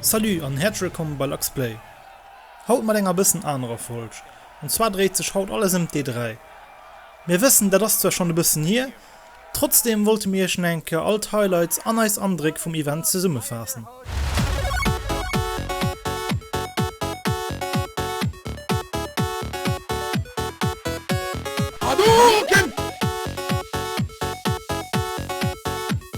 Salut an häerzlech wëllkomm bei LuxPlay. Haut mat enger bëssen anerer Folg. An zwar dréit sech haut alles ëm d'E3. Mir wëssen dat ass zwar schonn e bëssen hier, trotzdeem wollte mir iech nach eng Kéier all d'Highlights an eis Andréck vum Event zesummefaassen. Hadouken!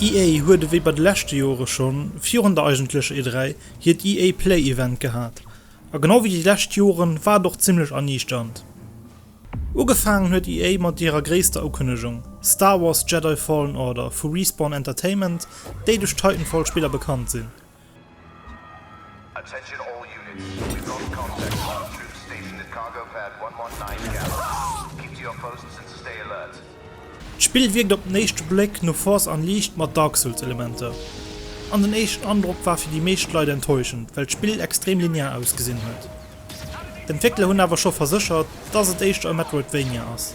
EA huet ewéi bei de leschte Jore schonn virun der eigentlecher E3 hiert EA Play Event gehat, a genau ewéi déi lescht Joren war et och zimmlech erniichternd. Ugefaangen huet EA mat hirer gréisster Ukënnegung, Star Wars Jedi Fallen Order vu Respawn Entertainment, déi duerch d'Titanfall Spiller bekannt sinn. D'Spill wierkt op den éischte Bléck no Force Unleashed mat Dark Souls Elementer, an den éischten Androck war fir déi meescht Leit enttäuschend, well d'Spill extrem linear ausgesinn huet. D'Entwéckler hunn awer scho verséchert, dass et éischter e Metroidvania ass.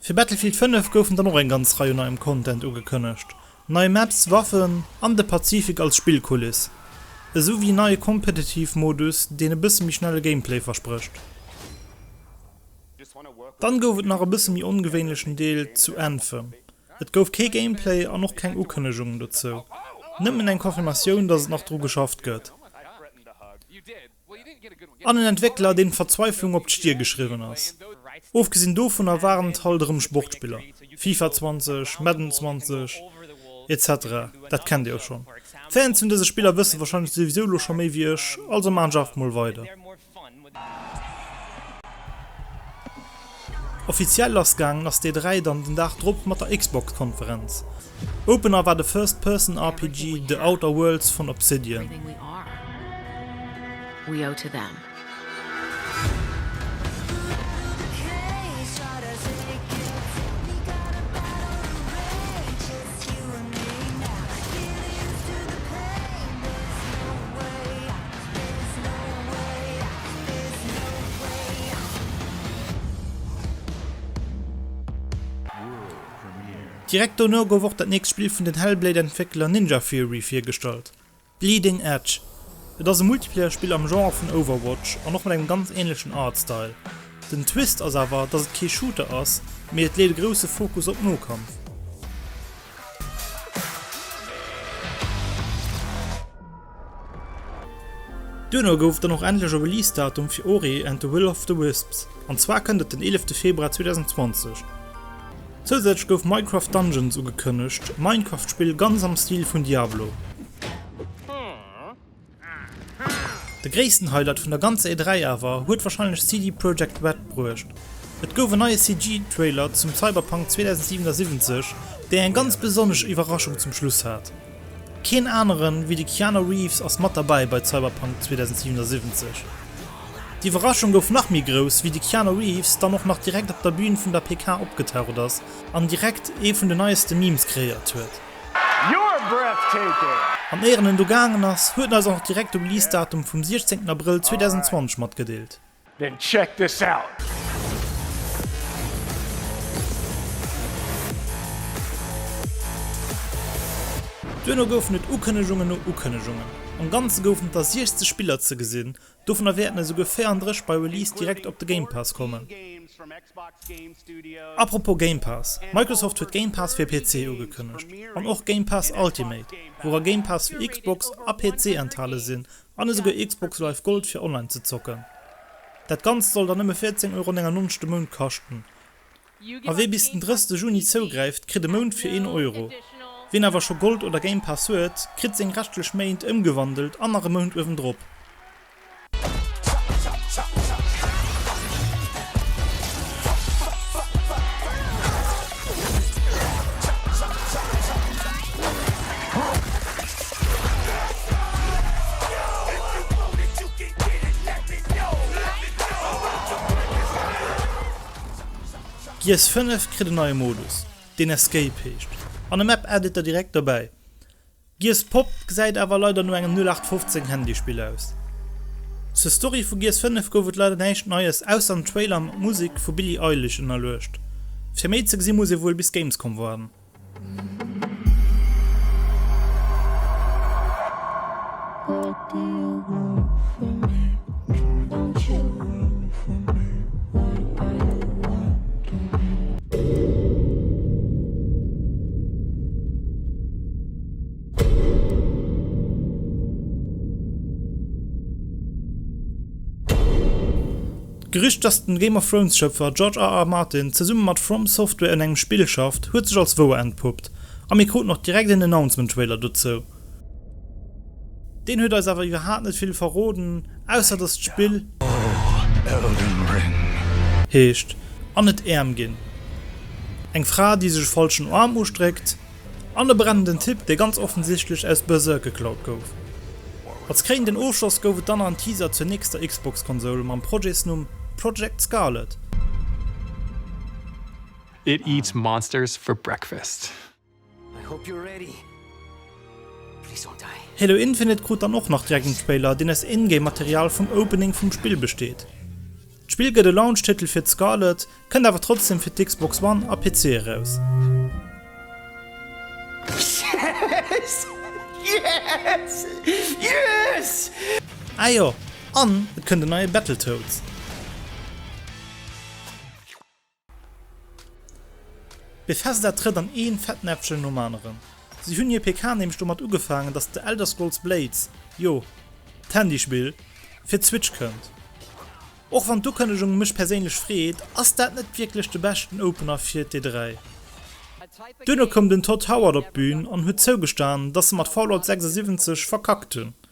Fir Battlefield 5 goufen dann och eng ganz Rei u neiem Content ugekënnegt, nei Maps, Waffen an de Pazifik als Spillkuliss, esou wéi en neie Competitive Modus, deen e bësse méi schnelle Gameplay versprécht. Dann gouf et nach e bësse méi ongewéinlechen Deel zu Anthem, et gouf kee Gameplay an och keng Ukënnegungen dozou, nëmmen eng Confirmatioun, dass et nach dru geschafft gëtt. An en Entwéckler, deen d'Verzweiflung op d'Stier geschriwwen ass. Ofgesinn dovunner waren et halt erëm Sportspiller, FIFA 20, Madden 20, etc. Dat kennt dir jo schonn. D'Fans vun dëse Spiller wësse wahrscheinlech souwisou elo scho méi wéi ech, also maachen ech einfach mol weider. Offiziell lassgaangen ass dee 3 dann den Dag drop mat der Xbox-Konferenz. Opener war de First-Person-RPG The Outer Worlds vun Obsidian. Direkt dono gouf och dat nächst Spill vun den Hellblade-Entwéckler Ninja Theory virgestallt, Bleeding Edge. Et ass e Multiplayer-Spill am Genre vun Overwatch an och mat engem ganz änlechen Artstyle. Den Twist ass awer, dass et kee Shooter ass, mee et leet e grousse Fokus op Nokampf. Duerno gouf dann och endlech e Release-Datum fir Ori and the Will of the Wisps, an zwar kënnt et den 11 Februar 2020. Zousätzlech gouf Minecraft Dungeons ugekënnegt, e Minecraft-Spill ganz am Stil vun Diablo. De gréissten Highlight vun der ganzer E3 awer huet warscheinlech CD Projekt Red bruecht, et gouf en neie CG-Trailer zum Cyberpunk 2077, dee eng ganz besonnesch Iwwerraschung zum Schluss hat. Keen aneren wéi de Keanu Reeves ass mat derbäi bei Cyberpunk 2077. D'Iwwerraschung gouf nach méi grouss wéi de Keanu Reeves dann och nach direkt op der Bühn vun der PK opgetaucht ass an direkt ee vun de neieste Memes kreéiert huet. An éier en do gaangen ass, huet en eis och nach direkt de Release Datum vum 16 Abrëll 2020 matgedeelt. Then check this out! Duerno goufen et Ukënnegungen no Ukënnegungen. Am Ganze goufen et der 60 Spiller ze gesinn, dovunner wäerten esouguer 34 bei Release direkt op de Game Pass kommen. Apropos Game Pass, Microsoft huet Game Pass fir PC ugekënnegt, an och Game Pass Ultimate, woura Game Pass fir Xbox a PC enthale sinn, An esouguer Xbox Live Gold fir online ze zocken. Dat Ganzt soll dann nëmme 14,99 Euro de Mount kaschten. A wee bis den 30 Juni zougräift, kritt e Mount fir een Euro. Wien awer scho Gold oder Game Pass huet, kritt seng reschtlech Méint ëmgewandelt an nach e Mount uewendrop. Gears 5 kritt en neie Modus, deen Escape heescht, an e Map Editor direkt dobäi. Gears Pop gesäit awer leider no engem 0815 Handyspill aus. Zur Story vu Gears 5 gouf et leider näischt Neies, ausser en Trailer mat Musek vu Billie Eilish ënnerluecht. Fir méi ze gesi muss ee wuel bis Gamescom waarden. D'Gerücht, dass den Game of Thrones Schëpfer George RR Martin zesumme mat From Software un engem Spill schafft, huet sech als wouer entpuppt, a mir kruten och direkt een Announcement Trailer dozou. Deen huet eis awer iwwerhaapt net vill verroden, ausser dass d'Spill. Oh, Elden Ring. Heescht, an et äerm ginn. Eng Fra, déi sech e falschen Arm ustréckt, an e brennenden Typ, dee ganz offensichtlech aus Berserk geklaut gouf. Als kréinenden Ofschloss gouf et dann nach en Teaser zur nächster Xbox-Konsoul mam Projetsnumm Project Scarlett. It eats monsters for breakfast. Halo Infinite krut dann och nach direkt en Trailer, deen aus In-Game Material vum Opening vum Spill besteet. D'Spill gëtt e Launch-Titel fir d'Scarlett, kënnt awer trotzdem fir d'Xbox One a PC eraus. Ah jo, an et kënnt en neie Battletoads! Bethesda trëtt an een Fettnäpfchen nom aneren. Si hunn hir PK nämlech domat ugefaangen, dass The Elder Scrolls Blades, jo, d'Handyspill, fir d'Switch kënnt. Och wann d'Ukënnegung mech perséinlech freet, ass dat net wierklech de beschten Opener fir d'E3. Duerno koum den Todd Howard op d'Bühn an huet zougestanen, dass se mat Fallout 76 verkackt hunn.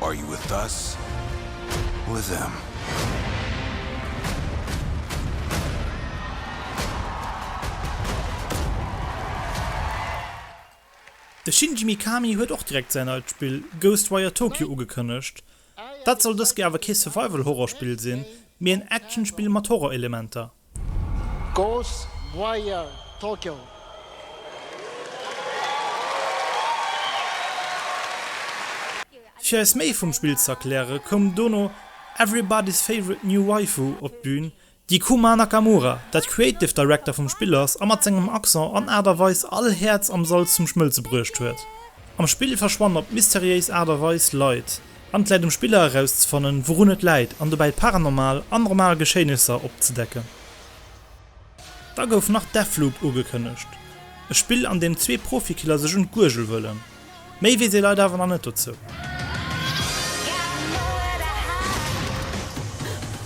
Are you with us or them? De Shinji Mikami huet och direkt säin neit Spill Ghostwire Tokyo ugekënnegt. Dat soll dëst Joer awer kee Survival-Horror-Spill sinn, mee en Action-Spill mat Horror-Elementer. Ghost Wire Tokyo. Fir eis méi vum Spill z'erklären, koum dono everybody's favorite new waifu op d'Bühn, déi Kuma Nakamura, dat Creative Director vum Spill ass a mat sengem Accent an Aart a Weis all Häerz am Sall zum Schmëlze bruecht huet. Am Spill verschwannen op mysteriéis Aart a Weis Leit. An et läit um Spiller erauszefannen, wourun et läit an dobäi paranormal an normal Geschéinesser opzedecken. Da gouf nach Deathloop ugekënnegt, e Spill an deem zwee Profikiller sech un d'Guergel huelen. Méi weess ee leider awer nach net dozou.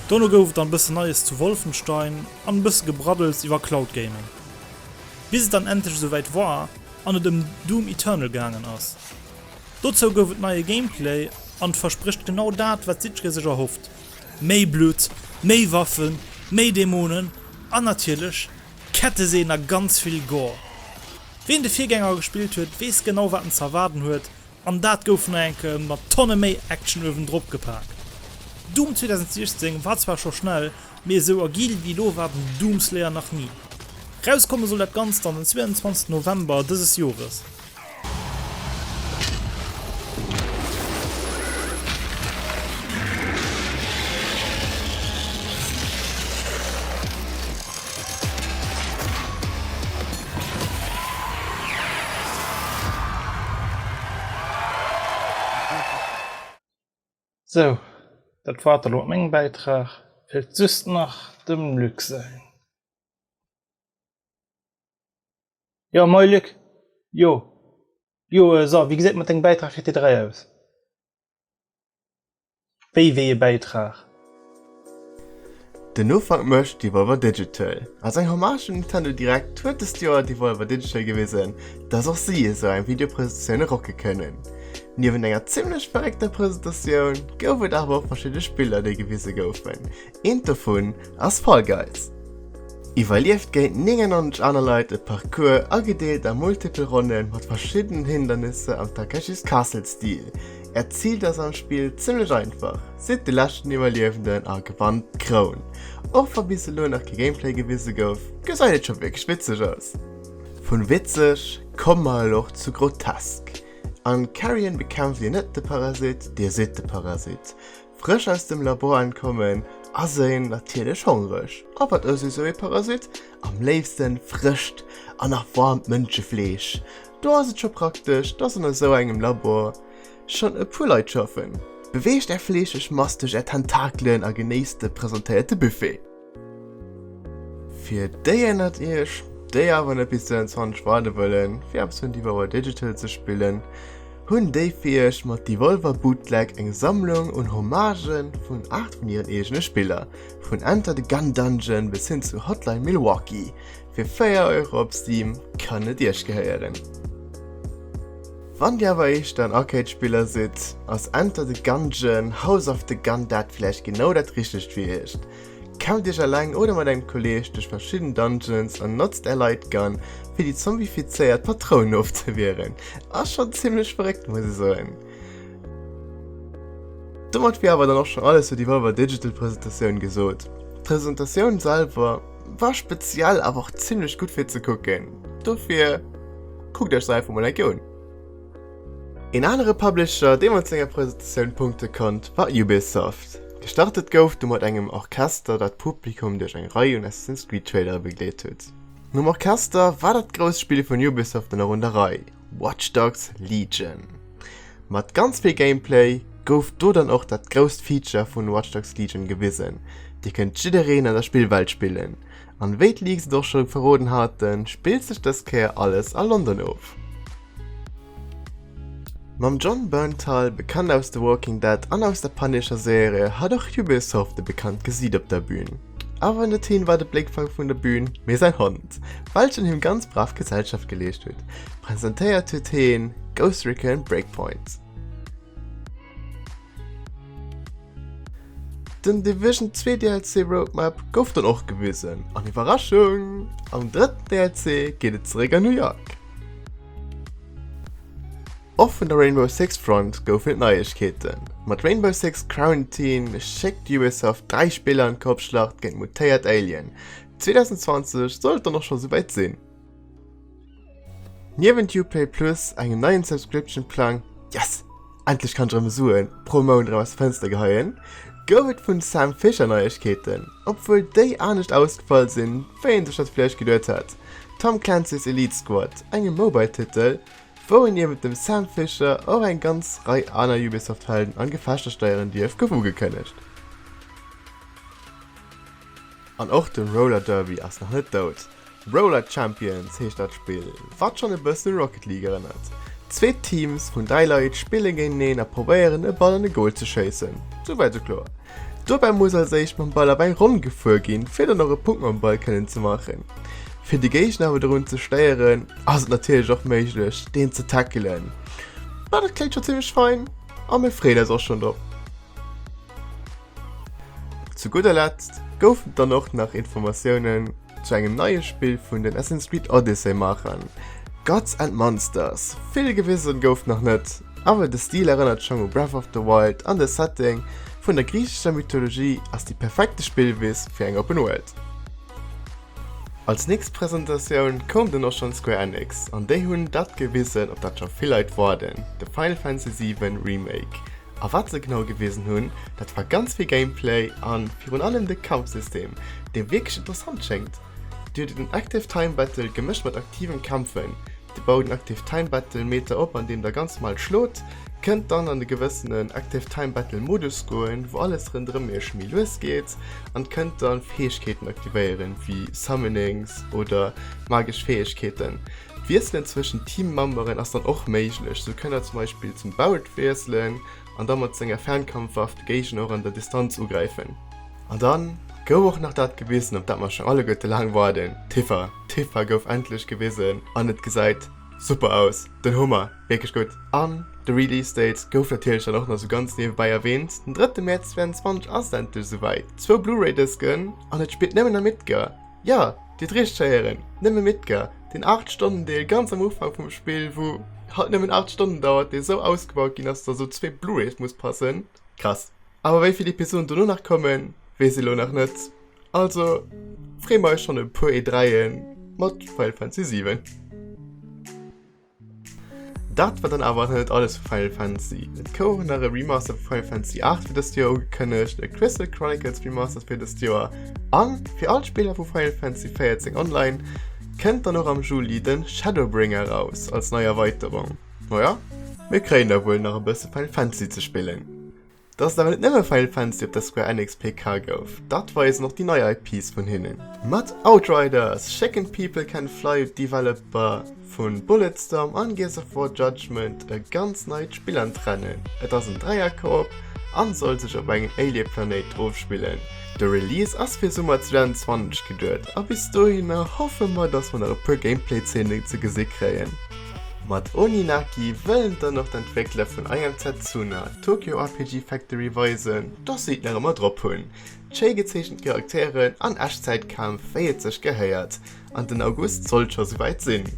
Dono gouf et dann e bësse Neies zu Wolfenstein an e bësse Gebraddels iwwer Cloud Gaming. Bis et dann endlech esouwäit war an et ëm Doom Eternal gaangen ass. Dozou gouf et neie Gameplay an et versprécht genau dat wat jiddweree sech erhofft, méi Blutt, méi Waffen, méi Dämonen an natierlech Ketteseen a ganz vill Gore. Ween de Virgänger gespillt huet weess genau wat en ze erwaarden huet an dat gouf nach enke mat Tonne méi Action uewendrop gepaakt. Doom 2016 war zwar scho schnell, mee esou agil wéi elo war den Doom Slayer nach ni. Rauskomme soll dat Ganzt dann den 22 November dëses Jores. Sou, dat war et elo mat mengem Bäitrag. Feelt just nach dem Luc säin. Jo moin Luc, jo jo so wéi geséit mat dengem Bäitrag fir T3 aus? Wéi wéi e Bäitrag? Den Ufank mécht Devolver Digital. Als eng Hommage un Nintendo Direct huet dëst Joer Devolver Digital gewisen, dass och si esou eng Videopresentatioune rocke kënnen. Niewent enger zimmlech verréckter Presentatioun gouf et awer och verschidde Spiller, déi gewise goufen. Eent dovun ass Fall Guys. Iwwerlieft géint 99 aner Leit e Parcours, agedeelt a multipel Ronnen mat verschiddenen Hindernisser am Takeshis Castle-Stil. Äert Zil ass am Spill zimmlech einfach, Sidd de leschten Iwwerliewenden a gewannt d'Kroun. Och wa bis elo nach kee Gameplay gewise gouf, gesäit et scho wierklech witzeg aus. Vun witzeg komme mer elo och zu grotesk. An Carrion bekämpft Dir net de Parasit, Dir sidd de Parasit. Frësch aus dem Labor entkommen ass een natierlech hongreg. A wat ësst esou ee Parasit am léifste? Frëscht an nach waarmt Mënschefleesch. Do ass et scho praktesch, dass an esou engem Labor schonn e puer Leit schaffen. Beweegt är fleescheg Mass duerch är Tentakelen a genéisst de presentéierte Buffet. Fir déi ënnert iech, déi awer net bis 22 waarde wëllen, fir eppes vun Devolver Digital ze spillen, hunn déi fir iech mat Devolver Bootleg eng Sammlung un Hommagë vun 8 vun hiren eegene Spiller, vun Enter the Gun Dungeon bis hin zu Hotline Milwaukee. Fir 4 Euro op Steam kann et iech gehéieren. Wann dir awer éischter en Arcade-Spiller sidd, ass Enter the Gungeon, House of the Gun dat vläicht genau dat richtegt fir iech. Kell dech eleng oder mat engem Kolleeg duerch verschidden Dungeons an notzt är Lightgun fir déi zombifizéiert Patrounen ofzewieren. Ass schon zimmlech verréckt muss e soen. Domat wier awer dann och schon alles zu déi Volver Digital Presentatioun gesot. D'Presentatioun selwer war speziell awer och zimmlech gutt fir ze kucken, dofir kuckt iech se einfach mol eng Kéier un. Een anere Publisher, dee mat senger Presentatioun punkte konnt, war Ubisoft. Gestartet gouf du mat engem Orchester, dat d'Publikum duerch eng Rei un Assassin's Creed Trailerer begleet huet. Nom Orchester war dat grousst Spill vun Ubisoft dann och un der Rei, Watch Dogs, Legion. Mat ganz vill Gameplay gouf do dann och dat grousst Feature vun Watch Dogs, Legion gewisen, Dir kënnt jiddereen an der Spillwelt spillen, An wéi d'Leaks et och scho verroden haten, spillt sech dës Kéier alles a London of. Mam Jon Bernthal, bekannt aus The Walking Dead an aus der Punisher Serie, hat och Ubisoft e bekannt Gesiit op der Bühn. Awer net hien war de Bléckfank vun der Bühn, mee säi Hond, welchen him ganz brav Gesellschaft geleescht huet. Presentéiert huet hien Ghost Recon Breakpoint. Den Division 2 DLC Roadmap gouf dann och gewisen, an Iwwerraschung, am drëtten DLC geet et zeréck an New York. Och vun der Rainbow Six Front goufen et Neiegkeeten. Mat Rainbow Six Quarantine schéckt Ubisoft 3 Spiller an d'Kopfschlacht géint mutéiert Alien. 2020 soll et dann och scho souwäit sinn. Niewent Uplay Plus, engem neien Subscription-Plang, yes! Endlech kann ech erëm Suen pro Mount erëm aus dem Fënster geheien, gouf et vun Sam Fischer Neiegkeeten, obwuel déi anescht ausgefall sinn, wéi een sech dat vläicht geduet hat, Tom Clancy's Elite Squad, engem Mobile-Titel, wou een niewent dem Sam Fisher och eng ganz Rei aner Ubisoft-Helden an Gefechter steieren dierf, gouf ugekënnegt. An och de Roller Derby ass nach net dout. Roller Champions heescht dat Spill, wat schonn e bëssen un Rocket League erënnert. Zwee Teams vun dräi Leit spillen géinteneen a probéieren e Ball an e Goal ze schéissen. Souwäit sou kloer. Dobäi muss als éischt mam Ball op eng Ronn gefuer ginn, fir dann och e Punkt mam Ball kënnen ze maachen. Fir de Géigner awer dorun ze stéieren, ass et natierlech och méiglech deen ze tackelen. Ma dat kléngt scho zimmlech fein a mir freeën eis och schonn drop. Zu gudder Letzt goufen dann och nach Informatiounen zu engem neie Spill vun den Assassin's Creed Odyssey Maachern, Gods and Monsters. Vill gewisen gouf nach net, awer de Stil erënnert schong u Breath of the Wild an de Setting vun der griichescher Mythologie ass déi perfekte Spillwiss fir eng Open World. Als nächst Presentatioun koum dann och schonn Square Enix an déi hunn dat gewisen op dat scho vill Leit woarden, de Final Fantasy 7 Remake. A wat se genau gewisen hunn, dat war ganz vill Gameplay an virun allem de Kampfsystem, dee wierklech interessant schéngt. Dir hutt en Active Time Battle gemëscht mat aktivem Kämpfen. Dir baut en Active Time Battle Meter op andeem der ganz normal schlot, kënnt dann an e gewëssenen Active Time Battle Modus goen, wou alles rënderëm iech méi lues geet an kënnt dann Fäegkeeten aktivéieren, wéi Summonings oder magesch Fäegkeeten. D'Wiesselen zwëschen Teammemberen ass dann och méiglech, sou kënnt der zum Beispill zum Barret wiesselen an da mat senger Fernkampfwaff de Géigner och an der Distanz ugräifen. An dann gouf och nach dat gewisen, op dat mer schon alleguerte laang waarden, d'Tifa. D'Tifa gouf endlech gewisen an et gesäit super aus, den Hummer, wierklech gutt! An de Release Date gouf natierlech dann och nach sou ganz niewebäi erwähnt, den drëtte Mäerz 2022 ass et endlech esouwäit, zwou Blu-ray Dësken an et spillt nëmmen am Itga. Jo, dir hutt richteg héieren, nëmme Midgar, deen 8 Stonnen Deel ganz am Ufank vum Spill, wou halt nëmmen 8 Stonnen dauert, dee sou ausgebaut ginn ass, dass op zwee Blu-rays muss passen. Krass. Awer wéi vill Episoden dono nach kommen, weess ee lo nach net. Also free mer eis schonn op e puer E3e mat Final Fantasy 7. Dat war dann awer nach net alles vu Final Fantasy. Et koum och nach e Remaster vu Final Fantasy 8 fir dëst Joer ugekënnegt, e Crystal Chronicles Remaster fir dëst Joer an fir all d'Spiller vu Final Fantasy 14 Online kënnt dann och am Juli de Shadowbringer eraus als nei Erweiterung. Majo, mir kréien da wuel nach e bësse Final Fantasy ze spillen. Dass et awer net nëmme Final Fantasy op der Square Enix PK gouf, dat weisen och déi nei IPs vun hinnen. Mat Outriders, Chicken People Can Fly huet d'Developer vu Bulletstorm an Gears of War Judgment e ganz neit Spill an d'Rennen. Et ass en Dräier-Koop an soll sech op engem Alien-Planéit ofspillen. De Release ass fir Summer 2020 geduet a bis dohinner hoffe mer dass mer nach e puer Gameplay-Zeenen ze gesi kréien. Mat Oninaki wëllen dann och d'Entwéckler vun I Am Setsuna Tokyo RPG Factory weisen, dass si et nach ëmmer drop hunn, schéi gezeechent Charakteren an Echtzäitkämpf wéi et sech gehéiert, an den August sollt scho souwäit sinn.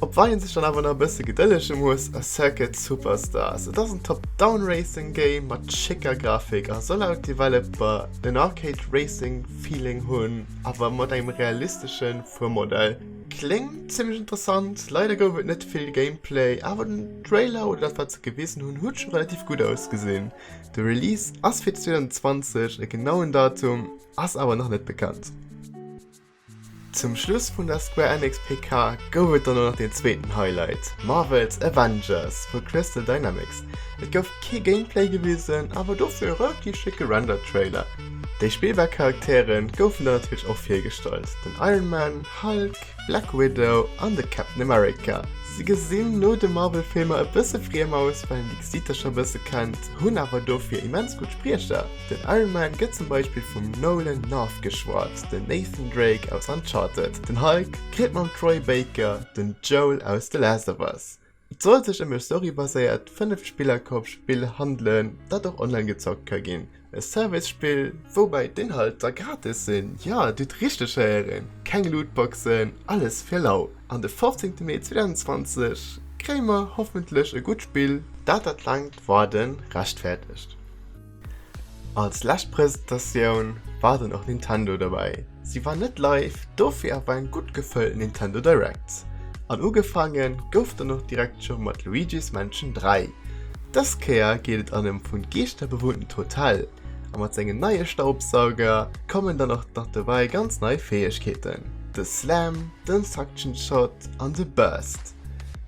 Op wat ee sech dann awer nach e bësse gedëllege muss ass Circuit Superstars. Et ass en Top-Down Racing Game mat schécker Grafik a soll laut Developer den Arcade Racing Feeling hunn, awer mat engem realistesche. vum Modell. Kléngt zimlech interessant, leider gouf et net vill Gameplay, awer den Trailer oder dat wat se gewisen hunn huet scho relativ gutt ausgesinn. De Release ass fir 2020, e genauen Datum ass awer nach net bekannt. Zum Schluss vun der Square Enix PK gouf et dann och nach den zweeten Highlight, Marvel's Avengers vu Crystal Dynamics. Et gouf kee Gameplay gewisen, awer dofir e relativ schécke Render-Trailer. Déi spillbar Charaktere goufen dann natierlech och virgestallt, den Iron Man, Hulk, Black Widow an de Captain America. Si gesinn no de Marvel-Filmer e bësse friem aus, well een déi Gesiichter scho e bësse kennt, hunn awer dofir immens gutt Spriecher. Den Iron Man gëtt zum Beispill vum Nolan North geschwat, den Nathan Drake aus Uncharted, den Hulk kritt mam Troy Baker den Joel aus The Last of Us, Et soll sech ëm e Story-baséiert 5 Spiller-Coop Spill handelen, dat och online gezockt ka ginn. E Service Spill, woubäi d'Inhalter gratis sinn, jo dir hutt richteg héieren, keng Lootboxen, alles fir lau. An de 15 Mee 2020 kréie mer hoffentlech e gutt Spill, dat dat laangt Waarden rechtfäerdegt. Als lescht Presentatioun war dann och Nintendo derbäi. Si war net live, dofir awer eng gutt gefëllt Nintendo Direct. An ugefaange gouf dann och direkt scho mat Luigi's Mansion 3. Dës Kéier geet et an e vun Geeschter bewunntent Hotel, a mat sengem neie Staubsauger kommen dann och nach dobäi ganz nei Fäegkeeten, de Slam, den Suction Shot an de Burst.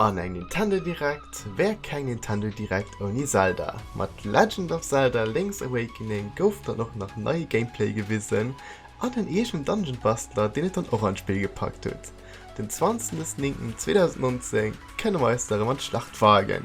An eng Nintendo Direct wär keng Nintendo Direct ouni Zelda. Mat Legend of Zelda, Link's Awakening gouf dann och nach neie Gameplay gewisen an en eegenen Dungeon Bastler deen et dann och an d'Spill gepackt huet. Den 20.09.2019 kënne mer eis da rëm an d'Schlacht wagen.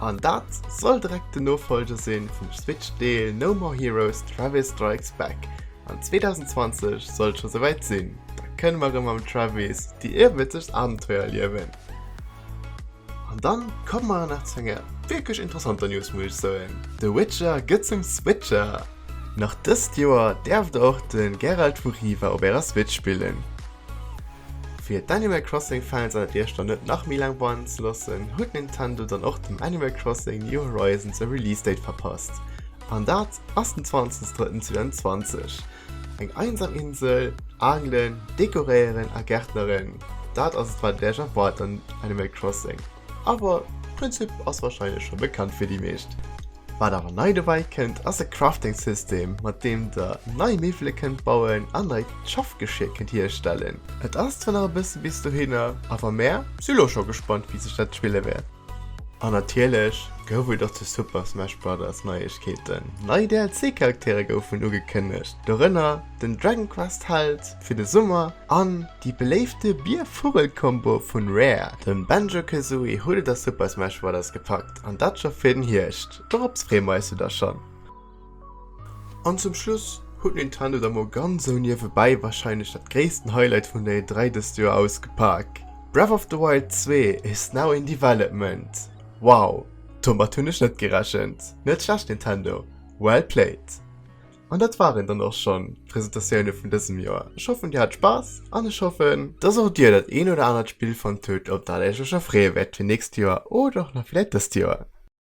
An dat soll direkt den Nofolger sinn vum Switch Deel No More Heroes, Travis Strikes Back. An 2020 soll et scho souwäit sinn, da kënne mer erëm mam Travis déi iewescht Abenteuer erliewen. An dann komme mer nach zu enger wierklech interessanter News muss ech soen, The Witcher gëtt zum Switcher! Nach dëst Joer däerft der och de Geralt vu Riva op ärer Switch spillen. Fir d'Animal Crossing Fans an et iech dann net nach méi laang warden ze loossen, huet Nintendo dann och dem Animal Crossing New Horizons e Release Date verpasst, an dat ass den 20 drëtten 2020. Eng einsam Insel, Angelen, Dekoréieren a Gärtneren, dat ass et wat et iech erwaart an Animal Crossing. Awer d'Prinzip ass warscheinlech scho bekannt fir déi meescht. Wat awer nei dobäi kënnt ass e Crafting System, mat deem der nei Miwwele kënnt bauen an neit Schaffgeschir kënnt hierstellen. Et ass zwar nach e bësse bis dohinner, awer mär si lo scho gespannt wéi sech dat spille wäert. An natierlech gouf et och zu Super Smash Brothers Neiegkeeten. Nei DLC Charaktere goufen ugekënnegt, dorënner den Dragon Quest Held fir de Summer an Déi beléifte Bier-Vugel-Kombo vun Rare, dem Banjo Kazooie, huet et a Super Smash Brothers gepackt, an dat scho fir den Hierscht. Dorops freeë mer eis jo da schonn! An zum Schluss huet Nintendo da mol ganz esou niewebäi warscheinlech dat gréissten Highlight vun der E3 dëst Joer ausgepak, Breath of the Wild 2 is now in development! Wow, domat hunn ech net gerechent! Net schlecht Nintendo, well played! An dat waren dann och schon d'Presentatioune vun dësem Joer. Ech hoffen dir hat Spass an ech hoffen, dass och dir dat een oder anert Spill fannt hutt op dat iech lech erfreeë wäert fir nächst Joer oder och nach villäit dëst Joer.